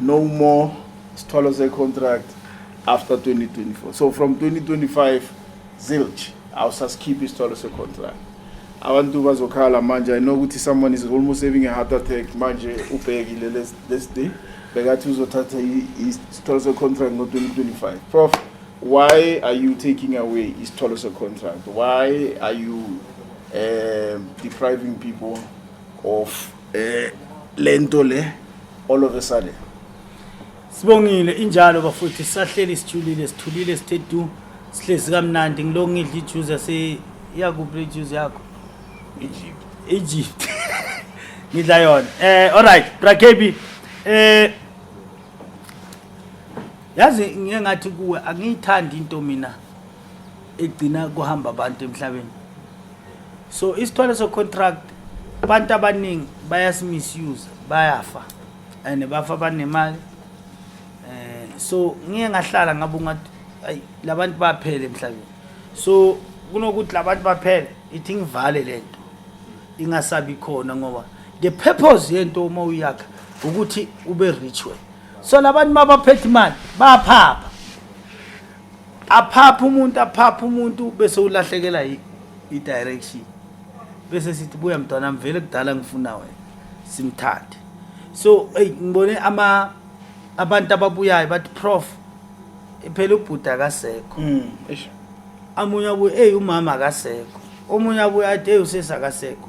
no more sithwalo secontract after 2024 so from 2025 zilch awusasikhiphi isithwalo secontract abantu bazokhala manje i know ukuthi someone is almost having a heart attack manje ubhekile lesi this day bekathi uzothatha isithwalo secontract ngo-2025 prof why are you taking away isithwalo secontract why are you um, depriving people of eh lento le all of a sudden Sibongile injalo bafuthi sahleli sijulile sithulile sithe du sihlezi kamnandi ngiloko ngidla ijuice yase yakuphi le juice yakho Egypt Egypt ngidla yona eh alright brakebi eh yazi ngeke ngathi kuwe angiyithandi into mina egcina kuhamba abantu emhlabeni so isithwalo socontract abantu abaningi bayasimisuse bayafa and bafa banemali um so ngiye ngahlala ngabe ungathi ayi la bantu baphele emhlabeni so kunokuthi la bantu baphele ithi ngivale le nto ingasabi khona ngoba the purpose yento uma uyakha ukuthi ube rich we so labantu mabaphethe imali baphapha aphapha umuntu aphapha umuntu bese ulahlekela i-direction bese sithi buya mntwana mvele kudala ngifuna wena simthathe so eyi ngibone ama abantu ababuyayo bathi prof phela ubhuti akasekho mm, amunye abuye eyi umama akasekho omunye abuye athi eyi usesi akasekho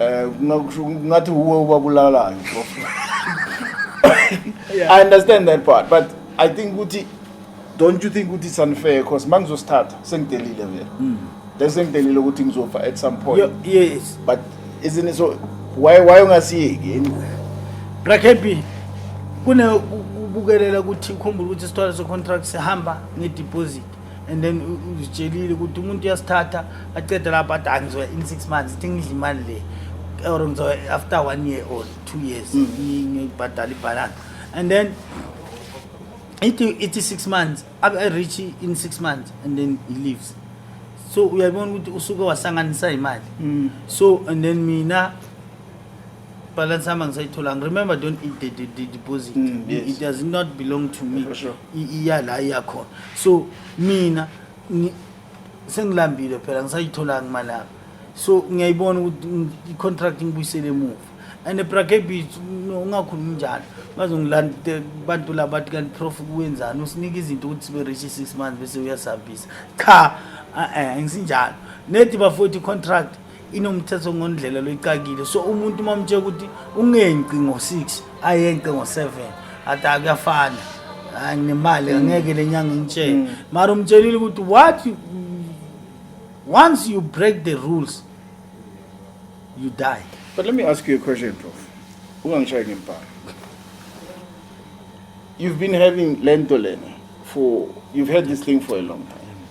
Eh kungakusho ngathi uwe ubabulalayo mfowethu. I understand that part but I think ukuthi don't you think ukuthi it's unfair because mangizosithatha sengidelile vele. Mm. Then sengidelile ukuthi ngizofa at some point. Yo, yes. But isn't it so why why ungasiyeki yini? Rakepi kune ukubukelela ukuthi ukhumbule ukuthi isithwalo secontract sihamba ngedeposit and then uzitshelile ukuthi umuntu uyasithatha acede lapho athi angizoya in six months ithi ngidla imali le or ngizoya after one year or two years mm. ngibhadala ibhalansi and then ithi ithi six months abe-reach in six months and then he leaves so uyabona ukuthi usuke wasanganisa imali mm. so and then mina balance yami angisayitholanga remember don't eat the, the, the deposit mm, yes. it does not belong to me sure. iya la iyakhona so mina sengilambile phela ngisayitholanga imali yami so ngiyayibona ukuthi i-contract ngibuyisele emuva and ebrakebi ungakhulumi njalo bazongilanda abantu laba bathi kanti prof kuwenzani usinika izinto ukuthi sibe rich six months bese uyasihambisa cha eh, eh, ngisinjalo nedi bafowethu i-contract inomthetho ngondlela loyicakile so umuntu uma umtshela ukuthi ungenci ngo-six ayenqe ngo-7 athi akuyafana hayi nemali angeke le nyanga ingitshele mm. mara umtshelile ukuthi what you, once you break the rules you die but let me ask you a question prof ungangishayi ngempala you've been having lento lena for you've had this thing for a long time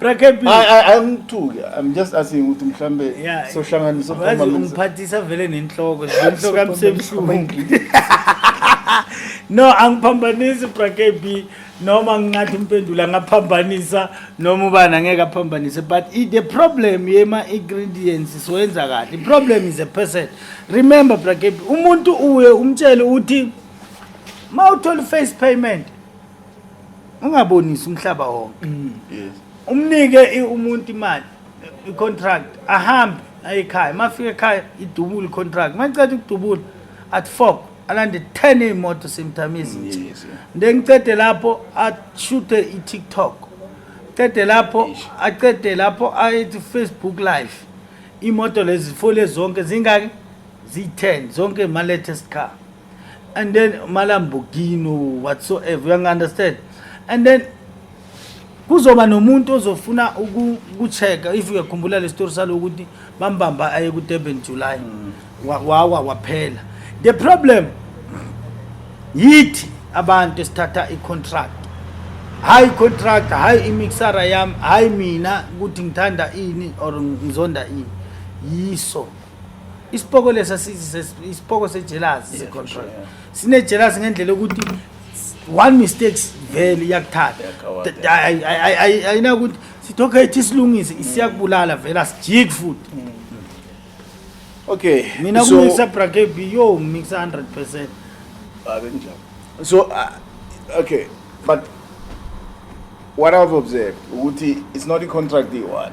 Brakephi. I I I'm too. I'm just asking ukuthi mhlambe Yeah. sohlanganisa Wazi uphambana. ungiphathisa vele nenhloko inhloko yami sebuhlungu no angiphambanisi brakb noma ngingathi umpendula ngaphambanisa noma ubani angeke aphambanise but i- the problem yema-ingredients siwenza kahle i-problem is a person remember brakb umuntu uye umtshele uthi ma uthole i-face payment ungabonisi umhlaba wonke mm. yes umnike umuntu imali i-contract ahambe aye ekhaya uma fika ekhaya idubule i-contract uma iceda ukudubula at four alande ten iy'moto semtime ezintsha nde ngicede lapho ashuthe i-tiktok cede lapho acede lapho ayethi facebook live imoto lezi fole zonke zingaki ziyi-ten zonke ma-latest car and then malambogino whatsoever uyangi-understand and then kuzoba nomuntu ozofuna ukucheck if uyakhumbula le story salo ukuthi bambamba aye ku-durban july mm. wawa waphela the problem yithi abantu esithatha i-contract hayi contract hayi imixara yami hayi mina ukuthi ngithanda ini or ngizonda ini yiso isipoko lesa isipoko sejealous se control sine jealous ngendlela ukuthi one mistakes vele iyakuthatha ayina ukuthi sithi okay thi silungise isiyakubulala vele asijiki futhi mm. okay mina kumixa brakebi yo mixa 100 percent abe njalo so uh, okay but what i've observed ukuthi it's not a contract the one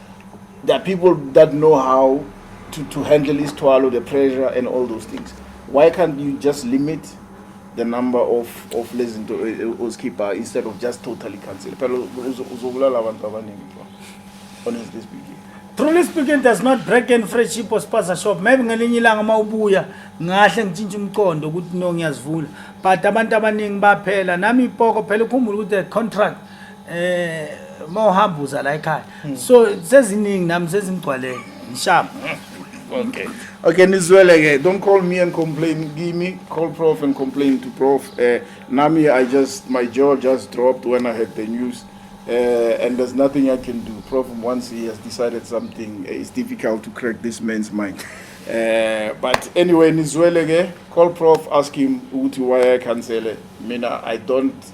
There are people that know how to, to handle isithwalo, the pressure and all those things. Why can't you just limit the number of of lezi zinto eh, eh, ozikhipha instead of just totally cancel? Phela uzo- uzobulala abantu abaningi bro. Honestly speaking. Truly speaking does not break in friendship or sponsor shop. Maybe ngelinye ilanga uma ubuya ngahle ngitshintshe umqondo ukuthi no ngiyazivula. But abantu abaningi baphela nami ipoko phela ukhumbula ukuthi the contract eh mawuhamba uza la ekhaya hmm. so seziningi nami sezimgcwalele ngishamba okay okay nizwele ke don't call me and complain give me call prof and complain to prof uh, nami i just my jaw just dropped when i heard the news uh, and there's nothing i can do prof once he has decided something eh, it's difficult to crack this man's mind uh, but anyway nizwele ke call prof ask him ukuthi why i cancel mina i don't